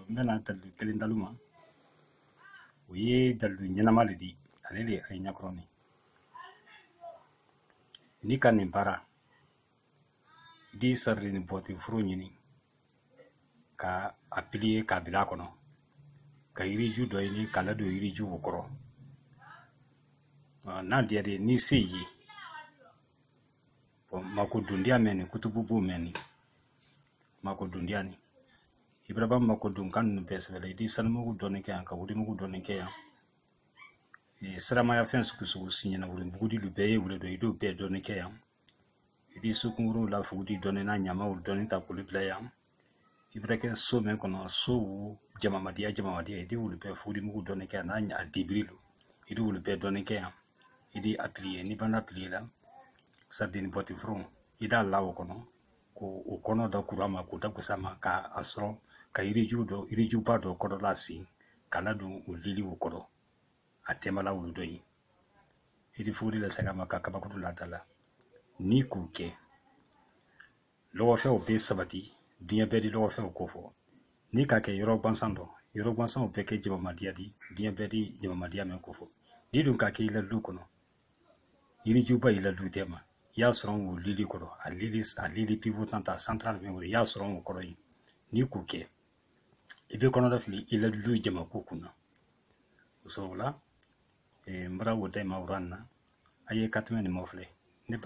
n bɛna dalilu kelen d'alu ma o ye dalilu ɲɛnama le di ale le a ye ɲɛkɔrɔ min n'i ka nin baara i di sadini bɔti foron ɲini ka a piliye k'a bila a kɔnɔ ka yiriju dɔ ɲini k'a ladon yiriju o kɔrɔ n'a diyara ye ni se ye mako dundiya mɛn nin kutubu b'o mɛn nin mako dundiya nin i bara ban ma ko don kan ninnu bɛɛ sɛbɛ la i di sanimugu dɔɔni kɛ yan ka wurimugu dɔɔni kɛ yan e, siramaya fɛn sugu sugu si ɲɛna wurimugu di lu bɛɛ ye wuli dɔ i d'o bɛɛ dɔɔni kɛ yan i di sukunkuru la fuguri dɔɔni n'a ɲamaw dɔɔni ta k'olu bila yan i bɛ kɛ so min kɔnɔ so wo jamadenya jamadenya i di wuli bɛɛ fugurimugu dɔɔni kɛ yan n'a dibiri lo i di wuli bɛɛ dɔɔni kɛ yan i di a piliye n'i banna a piliye la sadini bɔti foron i d'a la o kɔnɔ ko o kɔnɔ da kura ma k'o da kusa ma ka a sɔrɔ ka yiriju dɔ yirijuba dɔ kɔrɔla sen k'a ladon u liliw kɔrɔ a tɛmɛla wulu dɔ ye yirifuguri la saga ma ka kabakuru la da la n'i k'o kɛ lɔgɔfɛnw bɛ sabati diɲɛ bɛɛ di lɔgɔfɛnw ko fɔ n'i k'a kɛ yɔrɔ gansan dɔ yɔrɔ gansanw bɛɛ kɛ jamamadiya di diɲɛ bɛɛ di jamamadiya mɛn ko fɔ n'i dun k'a kɛ i la lu kɔnɔ yirijuba y'i la lu tɛma i y'a sɔrɔn wo lili kɔrɔ a lili a lili pivotante centrale min kɔrɔ i y'a sɔrɔn wo kɔrɔ ye n'i k'o kɛ i bɛ kɔnɔnafili i la lu jama ko kunna o sababu la n bara wo d'ayi ma wura na a ye ka tɛmɛ nin ma filɛ